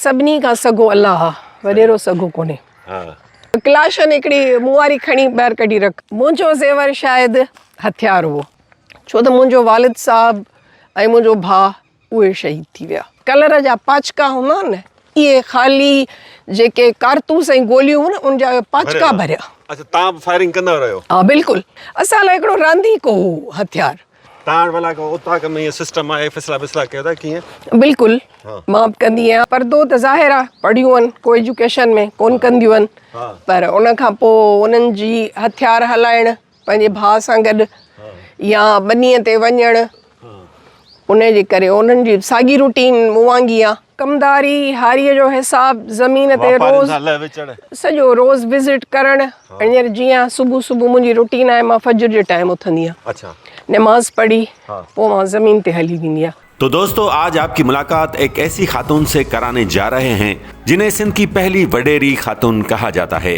سڀني کان سگهو الله آ، وڏيرو سگهو ڪونهي. ڪلاشن هڪڙي مون واري کڻي ٻاهر ڪڍي رک. منهنجو زيور شايد هٿيار هئو، ڇو ته منهنجو والد صاحب ۽ منهنجو ڀاء اهي شهيد ٿي ويا. ڪلر جا پاڇڪا هوندا آهن نه، اهي خالي جيڪي ڪارتوس ۽ گوليون هيون نه، ان جا اهي پاڇڪا ڀريا. اڇا، توهان به فائرنگ ڪندا رهيو؟ ها، بلڪل. اسان لاء هڪڙو رانديڪو هو هٿيار. تاڻ ولا کي اوطاق ۾ هي سسٽم آهي فيصلا بيصلا ڪيو ٿا ڪيئن بلڪل مان به ڪندي آهيان پردو ته ظاهر آهي پڙهيون آهن ڪو ايجوڪيشن ۾ ڪون ڪنديون آهن پر ان کان پوء انهن جي هٿيار هلائڻ پنهنجي ڀاء سان گڏ يا ٻنيء تي وڃڻ ان جي ڪري انهن جي ساڳي روٽين مون وانگي آهي ڪمداري هاريء جو حساب زمين تي روز سڄو روز وزٽ ڪرڻ هينئر جيئن صبح صبح منهنجي روٽين آهي مان فجر جي ٽائيم اٿندي آهيان نماز پڙهي پوء مان زمين تي هلي ويندي آهيان. تو دوستو آج آپ ڪي ملاقات ايڪ ايسي خاتون سي ڪراني جا رهي هين جنهين سنڌ ڪي پهلي وڏيري خاتون ڪها جاتا هي.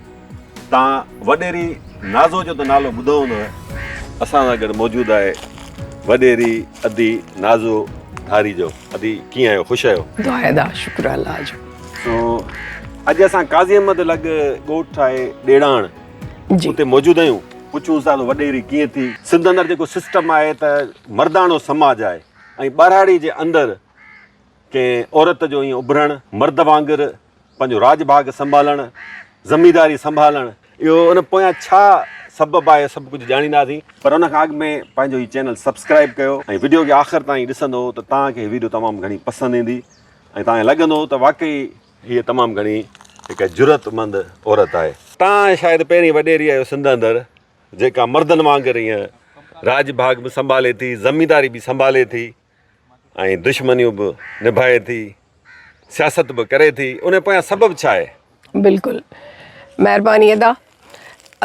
تان وڏيري نازو جو ته نالو ٻڌو هوندو. اسان سان گڏ موجود آهي وڏيري ادي نازو ڌاري جو ادي ڪيئن آهيو خوش آهيو. دعائي دا شڪر الله جو. سو اڄ اسان قاضي احمد لڳ ڳوٺ آهي ڏيڙاڻ اتي موجود آهيون پڇون ٿا ته وڏيري ڪيئن ٿي. سنڌ اندر جيڪو سسٽم آهي ته مرداڻو سماج آهي ۽ ٻهراڙي جي اندر ڪنهن عورت جو ائين اڀرڻ، مرد وانگر پنهنجو راڄ ڀاڳ سنڀالڻ، زمينداري سنڀالڻ، اهو ان پويان ڇا سبب آهي اهو سڀ ڪجهه ڄاڻينداسين. پر ان کان اڳ ۾ پنهنجو هي چينل سبسڪرائيب ڪيو ۽ وڊيو کي آخر تائين ڏسندو ته توهان کي هي وڊيو تمام گهڻي پسند ايندي ۽ توهان کي لڳندو ته واقعي هيء تمام گهڻي هڪ جرئت مند عورت آهي. توهان شايد پهرين وڏيري آهيو سنڌ اندر جيڪا مردن وانگر ائين راڄ ڀاڳ به سنڀالي ٿي، زمينداري به سنڀالي ٿي. ۽ دشمنيون به نڀائي ٿي سياست به ڪري ٿي ان پويان سبب ڇا آهي؟ بلڪل مهرباني ادا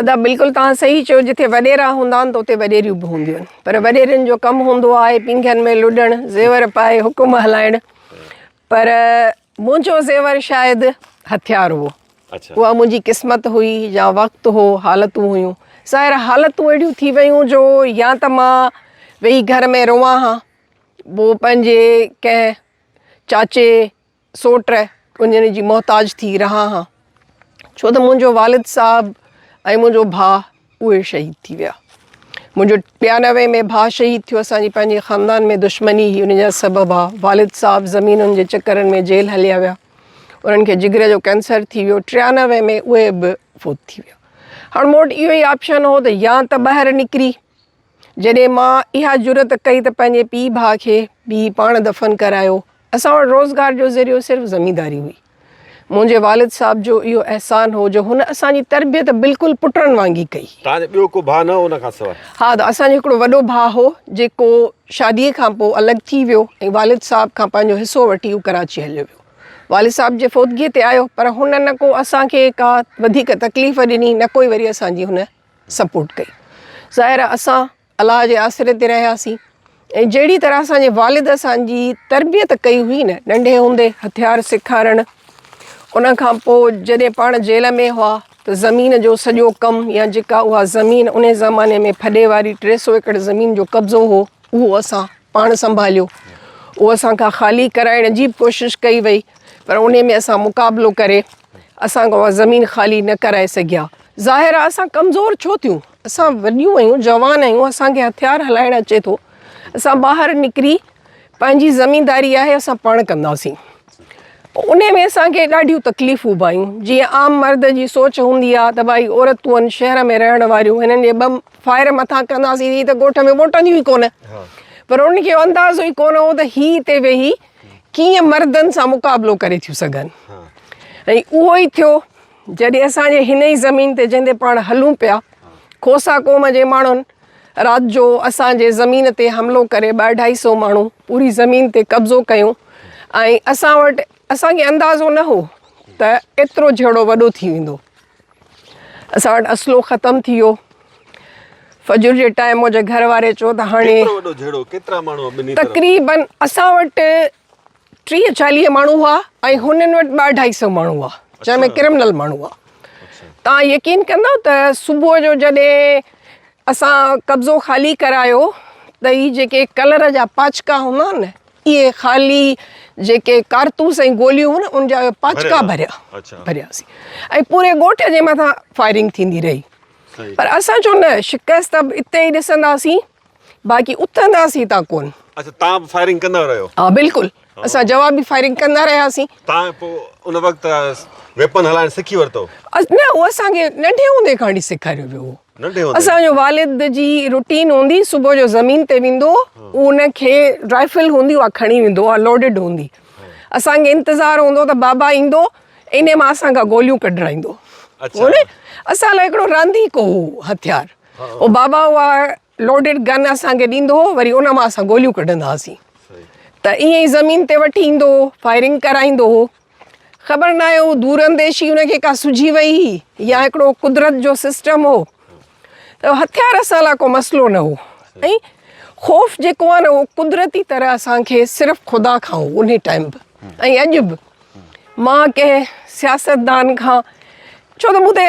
ادا بلڪل توهان صحيح چيو جتي وڏيرا هوندا آهن ته اتي وڏيريون به هونديون آهن پر وڏيرن جو ڪم هوندو آهي پينگهن ۾ لڏڻ زيور پائي حڪم هلائڻ پر منهنجو زيور شايد هٿيار هو. اها منهنجي قسمت هئي يا وقت هو، حالتون هيون. ظاهر حالتون اهڙيون ٿي ويون جو يا ته مان ويهي گهر ۾ روئان ها، پوء پنهنجي ڪنهن چاچي، سوٽ، ڪڃڻي جي محتاج ٿي رهان ها. ڇو ته منهنجو والد صاحب ۽ منهنجو ڀاء اهي شهيد ٿي ويا منهنجو ٽيانوي ۾ ڀاء شهيد ٿيو اسان جي پنهنجي خاندان ۾ دشمني هي ان جا سبب آ والد صاحب زمينن جي چڪرن ۾ جيل هليا ويا انهن کي جگري جو ڪينسر ٿي ويو ٽيانوي ۾ اهي به فوت ٿي ويا هاڻ مون وٽ اهو ئي آپشن هو ته يا ته ٻاهر نڪري جڏهن مان اها جرت ڪئي ته پنهنجي پيء ڀاء کي به پاڻ دفن ڪرايو اسان وٽ روزگار جو ذريعو صرف زمينداري هئي. منهنجي والد صاحب جو اهو احسان هو جو هن اسان جي تربيت بلڪل پٽن وانگي ڪئي. توهان جو ٻيو ڪو ڀاء نه هو ان کان سواء؟ ها ته اسان جو هڪڙو وڏو ڀاء هو جيڪو شادي کان پوء الڳ ٿي ويو ۽ والد صاحب کان پنهنجو حصو وٺي هو ڪراچي هليو ويو. والد صاحب جي فوتگيء تي آيو پر هن نه ڪو اسان کي ڪا وڌيڪ تڪليف ڏني نه ڪوئي وري اسان جي هن سپورٽ ڪئي. ظاهر آهي اسان الله جي آسري تي رهياسين ۽ جهڙي طرح اسان جي والد اسان جي تربيت ڪئي هئي نه ننڍي هوندي هٿيار سيکارڻ ان کان پوء جڏهن پاڻ جيل ۾ هئا ته زمين جو سڄو ڪم يا جيڪا اها زمين ان زماني ۾ ڦڏي واري ٽي سو ايڪڙ زمين جو قبضو هو اهو اسان پاڻ سنڀاليو اهو اسان کان خالي ڪرائڻ جي به ڪوشش ڪئي وئي پر ان ۾ اسان مقابلو ڪري اسان کان اها زمين خالي نه ڪرائي سگهيا ظاهر آهي اسان ڪمزور ڇو ٿيون اسان وڏيون آهيون جوان آهيون اسان کي هٿيار هلائڻ اچي ٿو اسان ٻاهر نڪري پنهنجي زمينداري آهي اسان پاڻ ڪنداسين پوء ان ۾ اسان کي ڏاڍيون تڪليفون به آيون جيئن عام مرد جي سوچ هوندي آهي ته ڀائي عورتون آهن شهر ۾ رهڻ واريون هنن جي ٻه فائر مٿان ڪنداسين هي ته ڳوٺ ۾ موٽنديون ئي ڪونه پر ان کي اندازو ئي ڪونه هو ته هي هتي ويهي ڪيئن مردن سان مقابلو ڪري ٿيون سگهن ۽ اهو ئي ٿيو جڏهن اسان جي هن ئي زمين تي جنهن تي پاڻ هلون پيا، کوسا قوم جي ماڻهن رات جو اسان جي زمين تي حملو ڪري ٻه اڍائي سئو ماڻهو پوري زمين تي قبضو ڪيون ۽ اسان وٽ اسان کي اندازو نه هو ته ايترو جهيڙو وڏو ٿي ويندو. اسان وٽ اسلحو ختم ٿي ويو. فجر جي ٽائيم منهنجي گهر واري چيو ته هاڻي تقريبن اسان وٽ ٽيهه چاليهه ماڻهو هئا ۽ هنن وٽ ٻه اڍائي سئو ماڻهو هئا جنهن ۾ ڪرمنل ماڻهو هئا توهان يقين ڪندو ته صبح جو جڏهن اسان قبضو خالي ڪرايو ته هي جيڪي ڪلر جا پاچڪا هوندا آهن نه اهي خالي جيڪي ڪارتوس ۽ گوليون هيون نه ان جا پاچڪا ڀريا ڀرياسين ۽ پوري ڳوٺ جي مٿان فائرنگ ٿيندي رهي پر اسان چيو نه شڪست اتي ئي ڏسنداسين باقي اٿنداسين تان ڪون. اچا تان به فائرنگ ڪندا رهيو. ها بلڪل اسان جوابي فائرنگ ڪندا رهياسين. تان پو ان وقت ويپن هلائڻ سکي ورتو. نه هو اسان کي ننڍي هوندي کان وٺي سيکاريو ويو هو. ننڍي هوندي. اسان جو والد جي روٽين هوندي صبح جو زمين تي ويندو هو ان کي رائفل هوندي اها کڻي ويندو اها لوڊيڊ هوندي اسان کي انتظار هوندو ته بابا ايندو انهي مان اسان کان گوليون ڪڍرائيندو. اچا. اسان لاء هڪڙو رانديڪو هو هٿيار. او بابا اها لوڊڊ گن اسان کي ڏيندو هو وري ان مان اسان گوليون ڪڍندا هئاسين ته ائين ئي زمين تي وٺي ايندو هو فائرنگ ڪرائيندو هو خبر ناهي هو دور انديشي ان کي ڪا سجهي وئي هئي يا هڪڙو قدرت جو سسٽم هو ته هٿيار اسان لاء ڪو مسئلو نه هو ۽ خوف جيڪو آهي نه اهو قدرتي طرح اسان کي صرف خدا کان هو ان ٽائيم به ۽ اڄ به مان ڪنهن سياستدان کان ڇو ته مون تي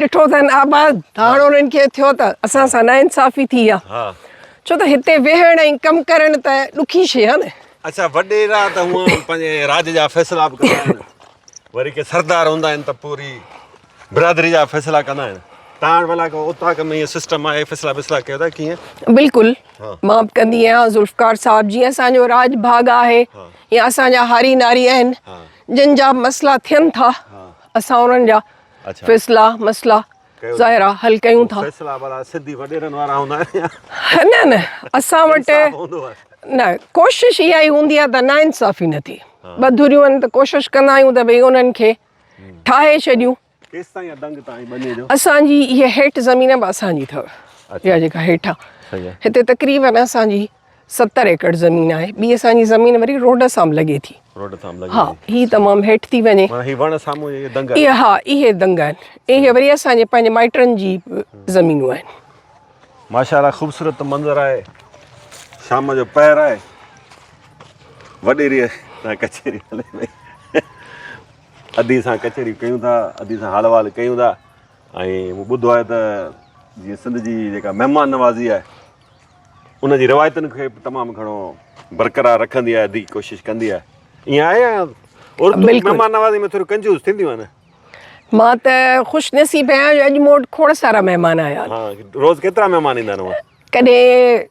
ڏٺو اٿن آباد هاڻ انهن کي ٿيو ته اسان سان ناانصافي ٿي آ ها ڇو ته هتي ويهڻ ۽ ڪم ڪرڻ ته ڏکي شي آ نه. اڇا وڏيرا ته هونء پنهنجي راڄ جا فيصلا به ڪندا آهن وري ڪي سردار هوندا آهن ته پوري برادري جا فيصلا ڪندا آهن تان وٽ ڀلا ڪو اوطاق ۾ ايئن سسٽم آهي فيصلا بيصلا ڪيو ته ڪيئن بلڪل مان به ڪندي آهيان ذوالفقار صاحب جيئن اسان جو راڄ ڀاڳ آهي يا اسان جا هاري ناري آهن جن جا به مسئلا ٿين ٿا اسان انهن جا فيصلا مسئلا ظاهرا حل ڪيون ٿا فيصلا وارا سنڌي وڏيرن وارا هوندا آهن يا نه نه اسان وٽ نه ڪوشش اها ئي هوندي آهي ته نا انصافي نه ٿي ٻه ڌريون آهن ته ڪوشش ڪندا آهيون ته ڀئي انهن کي ٺاهي ڇڏيون اسان جي اها هيٺ زمين به اسان جي اٿو اها جيڪا هيٺ آهي هتي تقريبن اسان جي ستر ايڪڙ زمين آهي ٻي اسان جي زمين وري روڊ سان به لڳي ٿي روڊ تام لڳي ها ٿي هي تمام هيٺ ٿي وڃي معنی هي وڻ سامهون جي دنگ آهي اهي ها اهي دنگ آهن اهي وري اسان جي پنهنجي مائٽن جي زمينون آهن ماشاءالله خوبصورت منظر آهي شام جو پهر آهي وڏيري سان ڪچهري هلي پئي ادي سان ڪچهري ڪيون ٿا ادي سان حال وال ڪيون ٿا ۽ مون ٻڌو آهي ته جيئن سنڌ جي جيڪا مهمان نوازي آهي ان جي روايتن کي به تمام گهڻو برقرار رکندي آهي ادي ڪوشش ڪندي آهي ائين آهي يا عورتون مهمان نوازي ۾ ٿوري ڪنجوس ٿينديون آهن مان ته خوش نصيب آهيان جو اڄ موٽ کوڙ سارا مهمان آيا آهن ها روز ڪيترا مهمان ايندا آهن ڪڏهن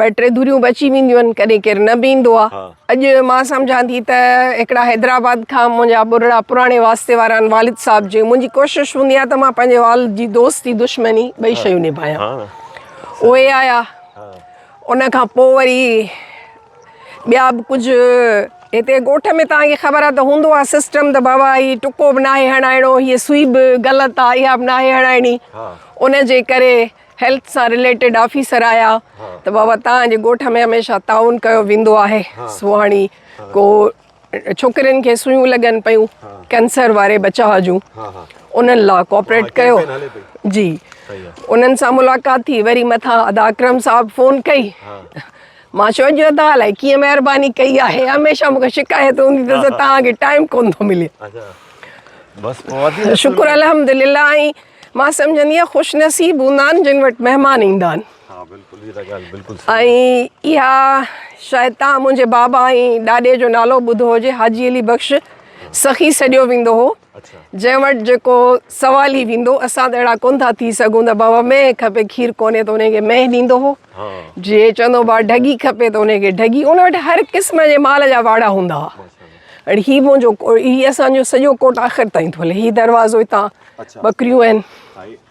ٻه ٽي ڌريون به اچي وينديون آهن ڪڏهن ڪير نه به ايندو آهي اڄ مان سمجهان ٿي ته هڪڙا حيدرآباد کان منهنجا ٻرڙا پراڻي واسطي وارا آهن والد صاحب جي منهنجي ڪوشش هوندي آهي ته مان پنهنجي والد جي دوستي دشمني ٻئي شيون نڀايان اهي آيا ان کان پوء وري ٻيا به ڪجهه هتي ڳوٺ ۾ تان کي خبر آهي ته هوندو آهي سسٽم ته بابا هي ٽڪو به ناهي هڻائڻو هي سوئي به غلط آهي اها به ناهي هڻائڻي ان جي ڪري هيلٿ سان رليٽيڊ آفيسر آيا ته بابا تان جي ڳوٺ ۾ هميشه تعاون ڪيو ويندو آهي سهاڻي ڪو ڇوڪرين کي سوئون لڳن پيون ڪينسر واري بچاء جون انهن لا ڪوپريٽ ڪيو جي انهن سان ملاقات ٿي وري مٿان ادا اڪرم صاحب فون ڪئي مان چيو جو ادا الائي ڪيئن مهرباني ڪئي آهي هميشه مونکي شڪايت هوندي ته توهان کي ٽائيم ڪون ٿو ملي شڪر الحمدلله ۽ مان سمجهندي آهيان خوش نصيب هوندا آهن جن وٽ مهمان ايندا آهن ۽ اها شايد توهان منهنجي بابا ۽ ڏاڏي جو نالو ٻڌو هجي حاجي علي بخش سخي سڏيو ويندو هو جنهن وٽ جيڪو سوال ئي ويندو اسان ته اهڙا ڪونه ٿا ٿي سگهون ته بابا مينهن کپي کير ڪونهي ته ان کي مينهن ڏيندو هو جي چوندو بابا ڍڳي کپي ته ان کي ڍڳي ان وٽ هر قسم جي مال جا واڙا هوندا هئا ۽ هي منهنجو هي اسان جو سڄو ڪوٽ آخر تائين ٿو هلي هي دروازو هتان ٻڪريون آهن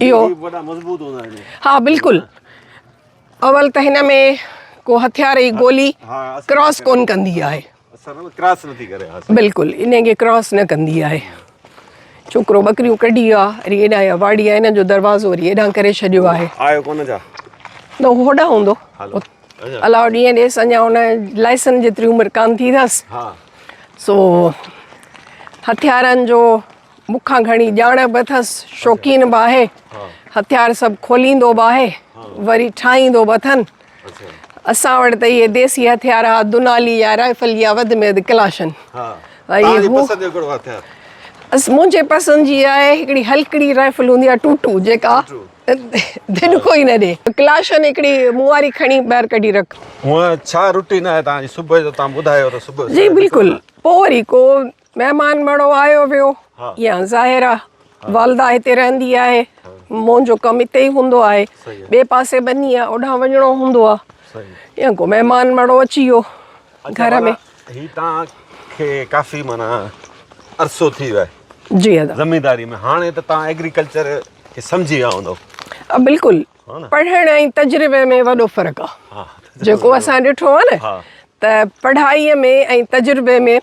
اهو ها بلڪل اول ته هن ۾ ڪو هٿيار جي گولي ڪراس ڪون ڪندي آهي بلڪل انهن کي ڪراس نه ڪندي آهي ڇوڪرو ٻڪريون ڪڍي آ وري ايڏا يا واڙي آ هن جو دروازو وري ايڏا ڪري ڇڏيو آهي آيو ڪونه ڇا نه هوڏا هوندو الاو ڏينهن ڏيس اڃا هن لائسن جيتري عمر ڪان ٿي اٿس سو هٿيارن جو مون کان گهڻي ڄاڻ به اٿس شوقين به آهي هٿيار سڀ کوليندو به آهي وري ٺاهيندو به اٿن اسان وٽ ته اهي ديسي هٿيار ها دونالي يا رائفل يا وڌ ۾ وڌ ڪلاشن منهنجي پسند جي آهي هڪڙي هلڪڙي رائفل هوندي آهي ٽوٽو جيڪا دنڪو ئي نه ڏي ڪلاشن هڪڙي مون واري کڻي ٻاهر ڪڍي رک هونء ڇا روٽين آهي تنهنجي صبح جو تنهن ٻڌايو ته صبح جي بلڪل پوء وري ڪو مهمان مڙو آيو ويو يا ظاهر آ والده هتي رهندي آهي منهنجو ڪم هتي ئي هوندو آهي ٻئي پاسي ٻني آ اوڏانهن وڃڻو هوندو آ يا ڪو مهمان مڙو اچي ويو گهر ۾ هي تان کي ڪافي معنيٰ عرصو ٿي ويو آهي جي ادا زمينداري ۾ هاڻي ته تان ايگريڪلچر کي سمجهي ويا هوندو بلڪل پڙهڻ ۽ تجربي ۾ وڏو فرق آ جيڪو اسان ڏٺو آ نه ته پڙهائي ۾ ۽ تجربي ۾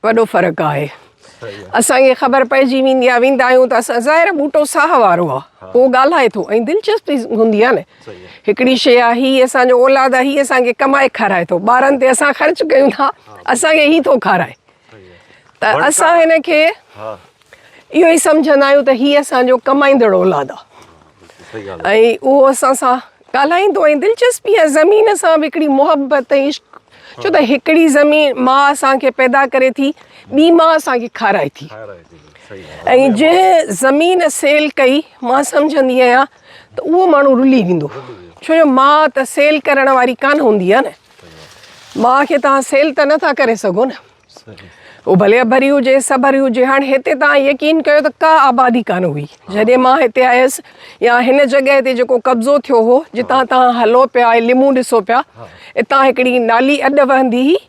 وڏو فرق آهي اسان کي خبر پئجي ويندي آهي ويندا آهيون ته اسان ظاهر ٻوٽو ساهه وارو آهي اهو ڳالهائي ٿو ۽ دلچسپي هوندي آهي نه هڪڙي شي آهي هي اسان جو اولاد آهي هي اسان کي ڪمائي کارائي ٿو ٻارن تي اسان خرچ ڪيون ٿا اسان کي هي ٿو کارائي ته اسان هن کي اهو ئي سمجهندا آهيون ته هي اسان جو ڪمائيندڙ اولاد آ ۽ اهو اسان سان ڳالهائيندو ۽ دلچسپي ۽ زمين سان به هڪڙي محبت ۽ عشق ڇو ته هڪڙي زمين ماء اسان کي پيدا ڪري ٿي ٻي ماء اسان کي کارائي ٿي ۽ جنهن زمين سيل ڪئي مان سمجهندي آهيان ته اهو ماڻهو رلي ويندو ڇو جو ماء ته سيل ڪرڻ واري ڪانه هوندي آ نه ماء کي توهان سيل ته نٿا ڪري سگهو نه اهو ڀلي اڀري هجي، سڀري هجي، هاڻ هتي توهان يقين ڪيو ته ڪا آبادي ڪانه هئي، جڏهن مان هتي آيس يا هن جڳهه تي جيڪو قبضو ٿيو هو، جتان توهان هلو پيا ۽ لمون ڏسو پيا، اتان هڪڙي نالي اڏ وهندي هئي،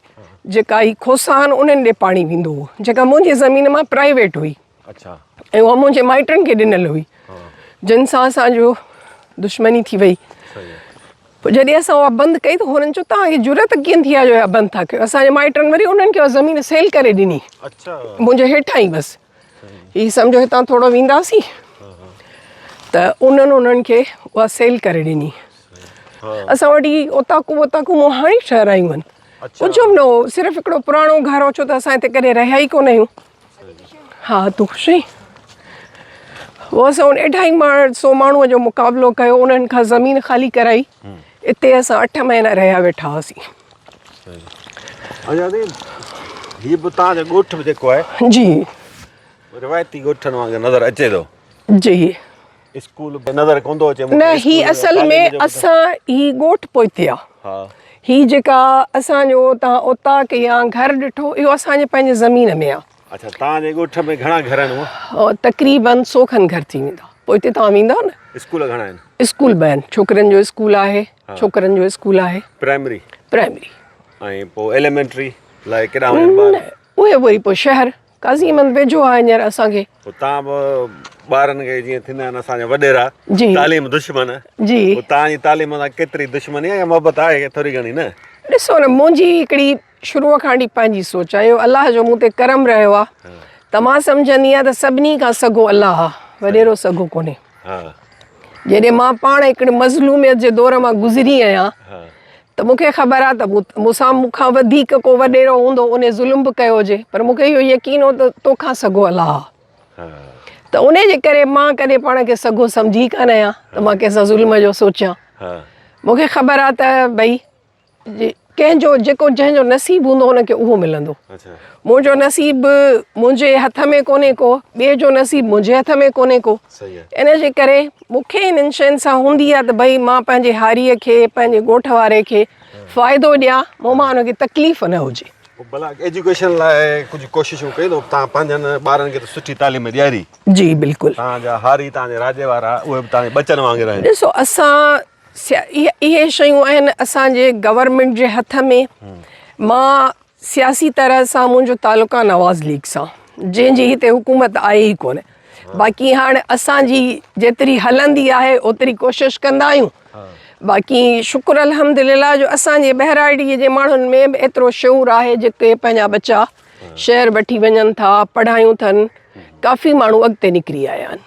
جيڪا هي کوسان انهن ڏي پاڻي ويندو هو، جيڪا منهنجي زمين مان پرائيويٽ هئي. ۽ اها منهنجي مائٽن کي ڏنل هئي، جن سان اسان جو دشمني ٿي وئي. پوء جڏهن اسان اها بند ڪئي ته هنن چيو، توهان کي جرئت ڪيئن ٿي آهي جو اها بند ٿا ڪيو؟ اسان جي مائٽن وري انهن کي اها زمين سيل ڪري ڏني، منهنجي هيٺان ئي بس هي سمجهو هتان ٿورو وينداسين ته انهن انهن کي اها سيل ڪري ڏني. اسان وٽ هي اوطاقون ووطاقون مون هاڻي ٺهرايون آهن. ڪجهه به نه هو، صرف هڪڙو پراڻو گهر هو، ڇو ته اسان هتي ڪڏهن رهيا ئي ڪونه آهيون. ها تون خوش آهين؟ هو اسان وٽ اڍائي ماڻهن سو ماڻهوء جو مقابلو ڪيو انهن کان زمين خالي ڪرائي اتي اسان اٺ مهينا رهيا ويٺا هئاسين هي به تان جو ڳوٺ به جيڪو آهي جي روايتي ڳوٺن وانگر نظر اچي ٿو جي اسڪول به نظر ڪوندو اچي مون کي. نه هي اصل ۾ اسان هي ڳوٺ پوئتي آ. ها. هي جيڪا اسان جو تان اوطاق يا گهر ڏٺو اهو اسان جي پنهنجي زمين ۾ آ. اڇا تان جي ڳوٺ ۾ گهڻا گهر آهن هونء؟ تقريبن سو کن گهر ٿي ويندا پوئتي تان ويندؤ نه. اسڪول گهڻا آهن؟ اسڪول به آهن ڇوڪرين جو اسڪول آهي ڇوڪرن جو اسڪول آهي. پرائمري؟ پرائمري. ۽ پو ايليمينٽري لاء ڪيڏا وڃن ٻار؟ نه اهي وري پو شهر قاضي احمد ويجهو آهي هينئر اسان کي. اتان به ٻارن کي جيئن ٿيندا آهن اسان جا وڏيرا تعليم دشمن جي پوء توهان جي تعليم سان ڪيتري دشمني آهي يا محبت آهي ٿوري گهڻي نه. ڏسو نه منهنجي هڪڙي شروع کان وٺي پنهنجي سوچ آهي اهو الله جو مون تي ڪرم رهيو آهي ته مان سمجهندي آهيان ته سڀني کان سگهو الله آهي وڏيرو سگهو ڪونهي جڏهن مان پاڻ هڪڙي مظلوميت جي دور مان گذري آهيان ته مون کي خبر آ ته مون سان مون کان وڌيڪ ڪو وڏيرو هوندو انهي ظلم به ڪيو هجي پر مون کي اهو يقين هو ته تو کان سگهو الله آ ته انهي جي ڪري مان ڪڏهن پاڻ کي سگهو سمجهي ڪانه آهيان ته مان ڪنهن سان ظلم جو سوچيان مون کي خبر آ ته ڀئي ڪنهن جو جيڪو جنهن جو نصيب هوندو ان کي اهو ملندو منهنجو نصيب منهنجي هٿ ۾ ڪونهي ڪو ٻئي جو نصيب منهنجي هٿ ۾ ڪونهي ڪو ان جي ڪري مون کي انهن شين سان هوندي آهي ته ڀئي مان پنهنجي هاريء کي، پنهنجي ڳوٺ واري کي فائدو ڏيان، مون مان ان کي تڪليف نه هجي. ڀلا ايجوڪيشن لاء ڪجهه ڪوششون ڪيون اٿو، توهان پنهنجن ٻارن کي ته سٺي تعليم ڏياري. جي بلڪل. توهان جا هاري، توهان جي راڄ وارا، اهي به توهان جي ٻچن وانگر آهن. ڏسو اسان اهي شيون آهن اسان جي گورنمينٽ جي هٿ ۾، مان سياسي طرح سان منهنجو تعلق آ نواز ليگ سان جنهن جي هتي حڪومت آهي ئي ڪونه باقي هاڻ اسان جي جيتري هلندي آهي اوتري ڪوشش ڪندا آهيون باقي شڪر الحمدلله جو اسان جي ٻهراڙي جي ماڻهن ۾ به ايترو شعور آهي جيڪي پنهنجا ٻچا شهر وٺي وڃن ٿا پڙهايون ٿن ڪافي ماڻهو اڳتي نڪري آيا آهن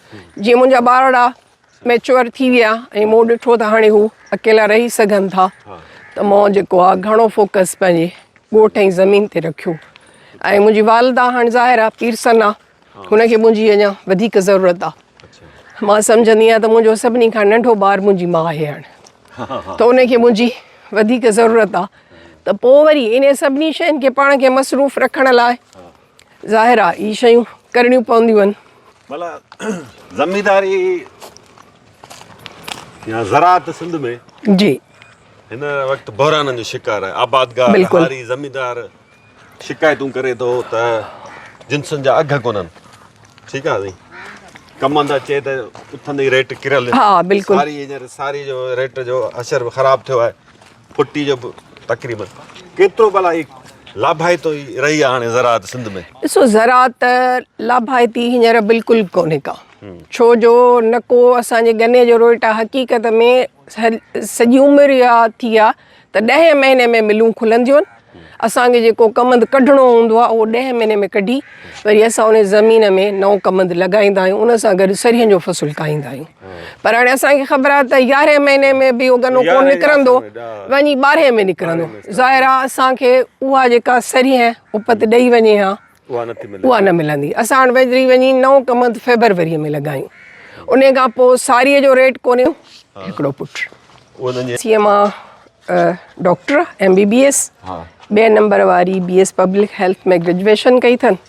جيئن منهنجا ٻارڙا ميچوئر ٿي ويا ۽ مون ڏٺو ته هاڻي هو اڪيلا رهي سگهن ٿا ته مون جيڪو آهي گهڻو فوڪس پنهنجي ڳوٺ ۽ زمين تي رکيو ۽ منهنجي والده هاڻ ظاهر آهي پيرسن آهي هن کي منهنجي اڃا وڌيڪ ضرورت آهي مان سمجهندي آهيان ته منهنجو سڀني کان ننڍو ٻار منهنجي ماء آهي هاڻ ته ان کي منهنجي وڌيڪ ضرورت آهي ته پوء وري انهن سڀني شين کي پاڻ کي مصروف رکڻ لاء ظاهر آ هي شيون ڪرڻيون پونديون آهن. ملا زمينداري يا زراعت سنڌ ۾ جي هن وقت بحرانن جو شڪار آهي آبادگار هاري زميندار شڪايتون ڪري ٿو ته جنسن جا اگهه ڪونهن ٺيڪ آهي سائين ڪماندا چئي ته اٿندي ريٽ ڪريل ساري هينئر ساري جو ريٽ جو اشر به خراب ٿيو آهي پٽي جو به تقريبن ڪيترو بلا هي لاڀائتو ئي رهي آ هاڻي زراعت سنڌ ۾. ڏسو زراعت لاڀائتي هينئر بلڪل ڪونهي ڪا ڇو جو نه ڪو اسان جي گني جو روئٽا حقيقت ۾ سڄي عمر يا ٿي آ ته ڏهين مهيني ۾ ملون کلنديون اسان کي جيڪو ڪمند ڪڍڻو هوندو آهي اهو ڏهين مهيني ۾ ڪڍي وري اسان ان زمين ۾ نئون ڪمند لڳائيندا آهيون ان سان گڏ سرهين جو فصل کائيندا آهيون پر هاڻي اسان کي خبر آهي ته يارهين مهيني ۾ به اهو گنو ڪونه نڪرندو وڃي ٻارهين ۾ نڪرندو ظاهر آهي اسان کي اها جيڪا سرهين اپت ڏئي وڃي ها اها نه ملندي اسان وٽ ويجهڙي وڃي نئون ڪم هنڌ فيبروريء ۾ لڳايون انهيء کان پوء ساريء جو ريٽ ڪونهيو هڪڙو پٽ سيء مان doctor M B B S ٻئي نمبر واري B S public health ۾ graduation ڪئي اٿن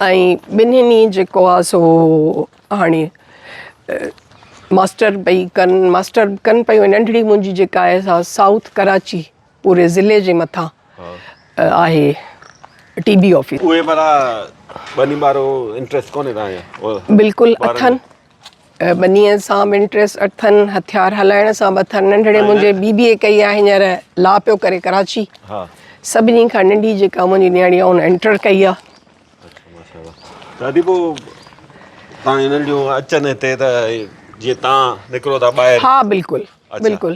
۽ ٻنهي جيڪو آهي سو هاڻي ماسٽر پئي ڪن ماسٽر ڪن پيون ننڍڙي منهنجي جيڪا آهي سا سائوٿ ڪراچي پوري ضلعي جي مٿان آهي ٽي بي آفيس. اهي ڀلا ٻني ٻارو انٽريس ڪونهي تان جو. بلڪل اٿن ٻني سان به انٽريس اٿن هٿيار هلائڻ سان به اٿن ننڍڙي منهنجي بي بي اي ڪئي آهي هينئر لا پيو ڪري ڪراچي سڀني کان ننڍي جيڪا منهنجي نياڻي آهي ان انٽر ڪئي آهي. دادي پو تان هنن جون اچن هتي ته جي تان نڪرو ٿا ٻاهر. ها بلڪل. بلڪل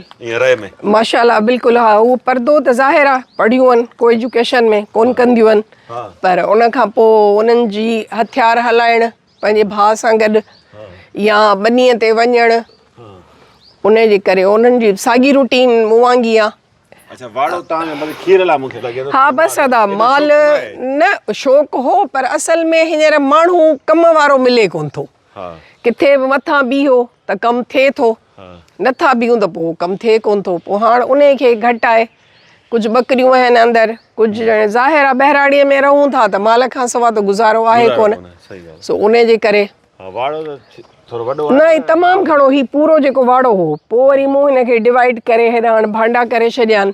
ماشاء الله بلڪل ها هو پردو ته ظاهر آ پڙهيون آهن ڪو ايجوڪيشن ۾ ڪون ڪنديون آهن پر ان کان پو انهن جي هٿيار هلائڻ پنهنجي ڀاء سان گڏ يا ٻنيء تي وڃڻ ان جي ڪري انهن جي ساڳي روٽين مون وانگي آ اچا واڙو تان جو مطلب کير لا مونکي لڳي ٿو ها بس ادا مال نه شوق هو پر اصل ۾ هينئر ماڻهو ڪم وارو ملي ڪون ٿو ڪٿي به مٿان بيهو ته ڪم ٿئي ٿو، نه ٿا بيهون ته پوء ڪم ٿئي ڪونه ٿو. پوء هاڻ انهي کي گهٽائي ڪجهه ٻڪريون آهن اندر، ڪجهه ڄڻي ظاهر آهي ٻهراڙيء ۾ رهون ٿا ته مال کان سوا ته گذارو آهي ڪونه، سو انهي جي ڪري. نه هي تمام گهڻو، هي پورو جيڪو واڙو هو، پوء وري مون هن کي ڊوائيڊ ڪري هيڏانهن هاڻ ڀانڊا ڪري ڇڏيان،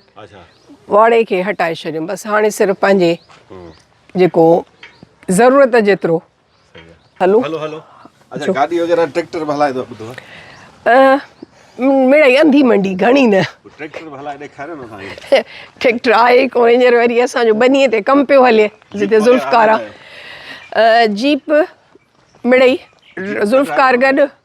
واڙي کي هٽائي ڇڏيم، بس هاڻي صرف پنهنجي جيڪو ضرورت جيترو. هلو هلو اچھا گاڏي وغيره ٽريڪٽر به هلائي ٿو ٻڌو مڙئي انڌي منڊي گهڻي نه ٽريڪٽر به هلائي ڏيکاريو نه سائين ٽريڪٽر آهي ڪو هينئر وري اسان جو ٻنيء تي ڪم پيو هلي جتي ذوالفقار جيپ مڙئي ذوالفقار گڏ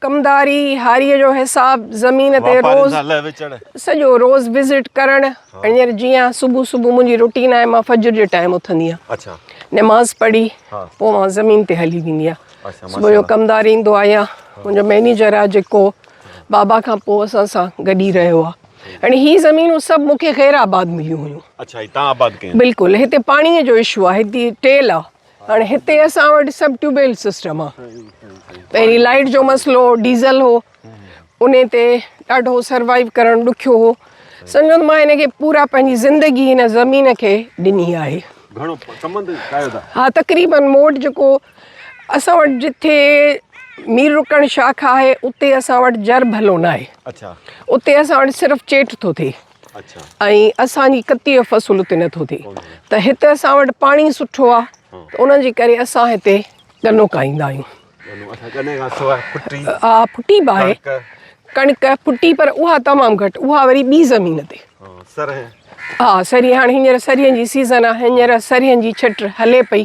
ڪمداري هاريء جو حساب زمين تي روز سڄو روز وزٽ ڪرڻ هينئر جيئن صبح صبح منهنجي روٽين آهي مان فجر جي ٽائيم اٿندي آهيان نماز پڙهي پوء مان زمين تي هلي ويندي آهيان صبح جو ڪمدار ايندو آهي يا منهنجو مئنيجر آهي جيڪو بابا کان پوء اسان سان گڏ ئي رهيو آهي ۽ هي زمينون سڀ مون کي خيرآباد مليون هيون بلڪل هتي پاڻيء جو اشو آهي هتي ٽيل آهي هاڻي هتي اسان وٽ سڀ ٽيوب ويل سسٽم آ پهرين لائيٽ جو مسئلو هو ڊيزل هو ان تي ڏاڍو سروائيو ڪرڻ ڏکيو هو سمجهو مان هن کي پورا پنهنجي زندگي هن زمين کي ڏني آهي ها تقريبن موٽ جيڪو اسان وٽ جتي مير رڪڻ شاخ آهي اتي اسان وٽ جر ڀلو ناهي اتي اسان وٽ صرف چيٽ ٿو ٿئي ۽ اسان جي ڪتي جو فصل اتي نٿو ٿئي ته هتي اسان وٽ پاڻي سٺو آ ته ان جي ڪري اسان هتي گنو کائيندا آهيون ها ڦٽي به آهي ڪڻڪ ڦٽي پر اها تمام گهٽ اها وري ٻي زمين تي ها سري هاڻي هينئر سرين جي سيزن آ هينئر سرين جي ڇٽ هلي پئي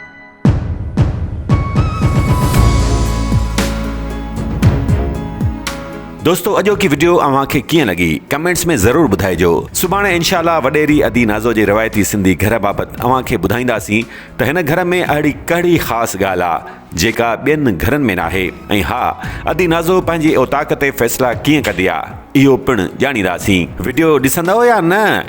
دوستو اڄوڪي وڊيو اوهان کي ڪيئن لڳي ڪمينٽس ۾ ضرور ٻڌائجو سڀاڻي انشاء الله وڏيري ادي نازو جي روايتي سنڌي گهر بابت اوهان کي ٻڌائينداسين ته هن گهر ۾ اهڙي ڪهڙي خاص ڳالهه آهي جيڪا ٻين گهرن ۾ ناهي ۽ ها ادي نازو پنهنجي اوطاق تي فيصلا ڪيئن ڪندي آهي اهو پڻ ڄاڻينداسين وڊيو ڏسندؤ يا نه